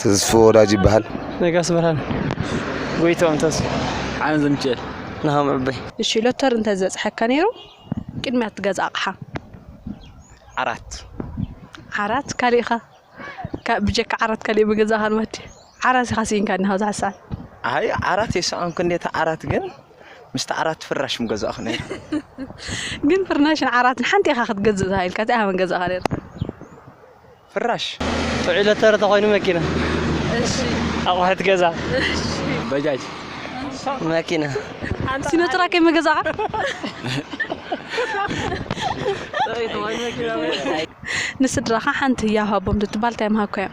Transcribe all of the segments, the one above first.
ተስፉ ወዳጅ ይበሃል። ነጋስ ብርሃን። ጎይትኦም ተስፉ። ሓረን ዘሚኪኤል። ናሆም ዕበይ። እሺ ሎተሪ እንተ ዝበጽሐካ ነይሩ ቅድሚያ እትገዝኣ ኣቕሓ? ዓራት። ዓራት ካሊእ ከ ካብ ብጀካ ዓራት ካሊእ ምገዛእካ ኣልማት ድዩ ዓራት ኢካ ሲኢንካ እኒሃ ብዙሓት ሰዓት። ኣይ ዓራት ኣይሰኣንኩን እንዴ እታ ዓራት ግን ምስቲ ዓራት ፍራሽ ምገዛእኩ ነይረ። ግን ፍርናሽን ዓራትን ሓንቲ ኢካ ክትገዝእ ተባሂልካ እንታይ ኢካ ምገዛእካ ነይርካ? ፍራሽ ጥዑይ ሎተሪ ተኾይኑ መኪና ኣቑሑት ገዛ ባጃጅ መኪና ሲኖትራክ ከይምገዛእኻ። ንስድራኻ ሓንቲ ህያብ ሃቦም ትትባል ታይ ምሃብካዮም?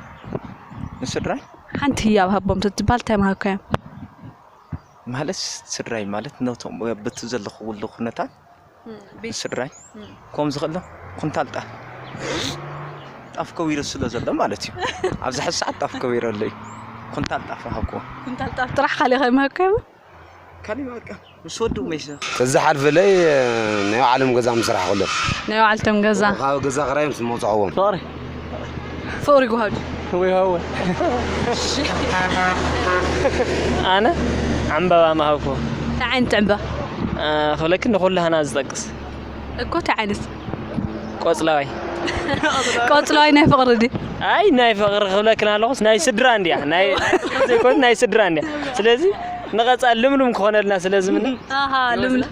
ንስድራይ ሓንቲ ህያብ ሃቦም ትትባል ታይ ምሃብካዮም? ማለት ስድራይ ማለት ነቶም በቲ ዘለኹሉ ኩነታት ስድራይ ኮምዚ ከሎ ኩንታል ጣፍ ጣፍ ከዊሩ ስለ ዘሎ ማለት እዩ ኣብዚ ሕዚ ሰዓት ጣፍ ከዊሩ ኣሎ እዩ ኩንታል ጣፍ ሃብኩዎ ኩንታል ጣፍ ጥራሕ ካሊእ ከይመሃብካ ይቡ ካሊእ በቃ ምስ ወዱ መይሰ ተዝሓልፍለይ ናይ ባዕሎም ገዛ ምስራሕ ኩሎም ናይ ባዕልቶም ገዛ ካብ ገዛ ክራይ ምስ መውፅዕዎም ፍቕሪ ጉሃዱ ፍቕሪ ሃወ ኣነ ዕምበባ ምሃብኩ እንታይ ዓይነት ዕምበባ ክብለኪ ንኹሉ ሃና ዝጠቅስ እኮ እንታይ ዓይነት ቆፅላዋይ ቆፅላዋይ ናይ ፍቕሪ ድዩ ኣይ ናይ ፍቕሪ ክብለክን ኣለኹስ ናይ ስድራ እንድያ ናይ ዘይኮን ናይ ስድራ እንድያ ስለዚ ንቐፃል ልምሉም ክኾነልና ስለዝምነ ልምሉም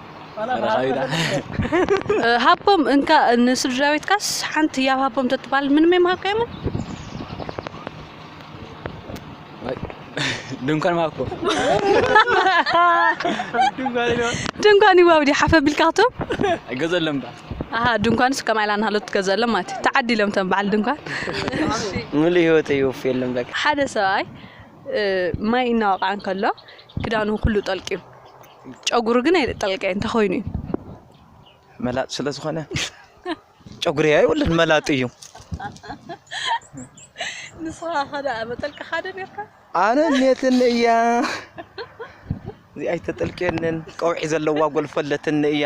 ሃቦም እንካ ንስድራቤትካስ ሓንቲ ያብ ሃቦም ተትባል ምንም የምሃብካዮምን ድንኳን ማኮ ድንኳን ይዋብ ዲ ሓፈ ቢልካቶም ገዘለም ባ ኣሃ ድንኳንስ ከማይ ኢላ ንሃሎት ትገዘሎም ማለት እዩ ተዓዲሎም ተን በዓል ድንኳን ሙሉ ህይወት ይወፍ የለም ለካ ሓደ ሰብኣይ ማይ እናወቕዓ እንከሎ ክዳኑ ኩሉ ጠልቂዩ ጨጉሩ ግን ኣይጠልቀ እንታይ ኮይኑ እዩ መላጥ ስለ ዝኾነ ጨጉሪ ኣይወልን መላጥ እዩ ንስኻ ሓደ መጠልቀ ሓደ ኔርካ ኣነ ኔትን እያ እዚኣ ኣይተጠልቅየንን ቀውዒ ዘለዋ ጎልፈለትን እያ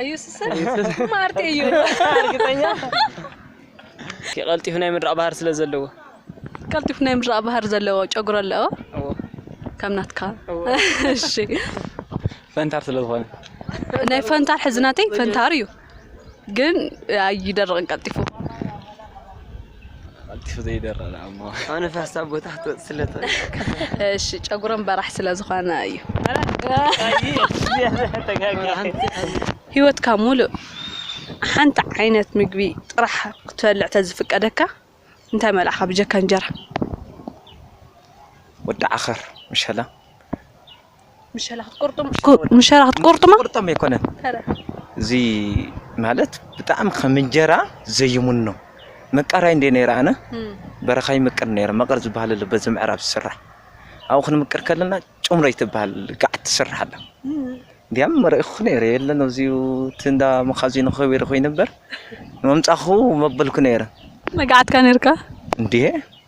ኣዩስሰ ማርት እዩ እርግጠኛ ቀልጢፉ ናይ ምድራቕ ባህር ስለ ዘለዎ ቀልጢፉ ናይ ምድራቕ ባህር ዘለዎ ጨጉሮ ኣለዎ ከም ናትካ እሺ ፈንታር ስለ ዝኾነ ናይ ፈንታር ሕዝናተይ ፈንታር እዩ ግን ኣይደርቕን ቀልጢፉ ቀልጢፉ ዘይደርቕ ደኣ እሞ ንፋስ ኣብ ቦታ ክትወፅእ ስለ ትኽእል እሺ ጨጉረን በራሕ ስለ ዝኾነ እዩ ሂወትካ ሙሉእ ሓንቲ ዓይነት ምግቢ ጥራሕ ክትበልዕ ተዝፍቀደካ እንታይ መልዕኻ ብጀካ እንጀራ? ወዲ ዓኸር መሸላ። ምሸላኽት ቁርጡም ምሸላኽት ቁርጡም ቁርጡም ኣይኮነን እዚ ማለት ብጣዕሚ ከም እንጀራ ዘይሙኖ መቃራይ እንደ ነይረ ኣነ በረኻ ይምቅር ነይረ መቐር ዝበሃል ኣሎ በዚ ምዕራብ ዝስራሕ ኣብኡ ክንምቅር ከለና ጭምረይ ትበሃል ጋዕ ትስራሕ ኣላ እንዲያም መርኢኹ ነይረ የለን ኣብዚኡ እቲ እንዳ መኻዚኖ ከቢሩ ኮይኑ ነበር መምፃኹ መበልኩ ነይረ መጋዓትካ ነርካ እንዴ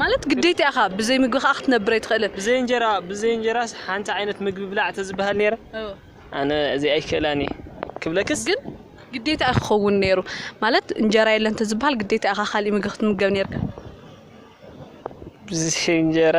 ማለት ግዴታ ኢኻ ብዘይ ምግቢ ከኣ ክትነብር ኣይትኽእልን። ብዘይ እንጀራ ብዘይ እንጀራስ ሓንቲ ዓይነት ምግቢ ብላዕ ተዝበሃል ነይረ ኣነ እዚ ኣይክእላን እየ ክብለክስ ግን ግዴታ እዩ ክኸውን ነይሩ ማለት እንጀራ የለን እንተዝበሃል ግዴታ ኢኻ ካሊእ ምግቢ ክትምገብ ነይርካ። ብዘይ እንጀራ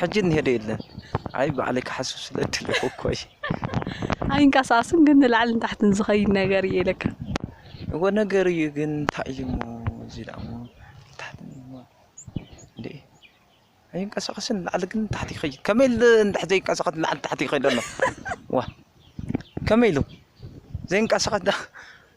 ሕጂ እኒሀ ዶ የለን? ኣይ ባዕለይ ክሓስብ ስለ እደለኹ እኮ እየ። ኣይንቀሳቀስን ግን ንላዕልን ንታሕትን ዝኸይድ ነገር እየ ኢለካ። እወ ነገር እዩ ግን እንታይ እዩ እሞ እዚ ደኣ እሞ ንታሕትን እሞ እንዴ ኣይንቀሳቀስን ንላዕሊ ግን ንታሕቲ ይኸይድ ከመይ ኢሉ እንድሕር ዘይንቀሳቀስ ንላዕሊ ንታሕቲ ይኸይድ ኣሎ ዋ ከመይ ኢሉ ዘይንቀሳቀስ ደኣ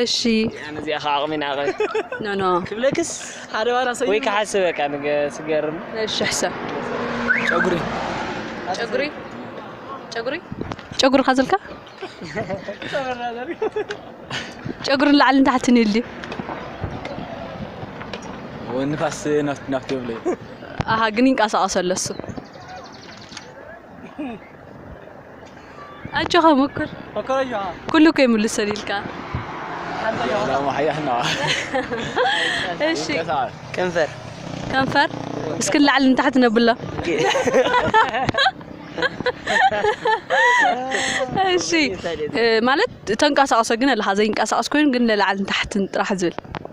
እሺ ኣነ እዚኣ ከዓ ኣቕሚ ናቐ ኖ ኖ ክብለክስ ሓደ ዋላ ሰው ወይ ክሓስብ በቃ ንገ ስገርም እሺ ሕሰብ ጨጉሪ ጨጉሪ ጨጉሪ ጨጉሪ ካዘልካ ጨጉሪ ንላዕሊ ንታሕቲ ንህልዩ ንፋስ ናፍቲ ናፍቲ ብለ ኣሃ ግን ይንቀሳቐስ ኣሎ እሱ ኣጆኻ ሙኩር ኩሉ ከይምልሰሉ ኢልካ እሺ ከንፈር ከንፈር እስኪ ንላዕሊ ንታሕቲ ነብሎ እሺ እ፣ ማለት ተንቀሳቕሶ ግን ኣለካ ዘይንቀሳቐስ ኮይኑ ግን ንላዕሊ ንታሕትን ጥራሕ ዝብል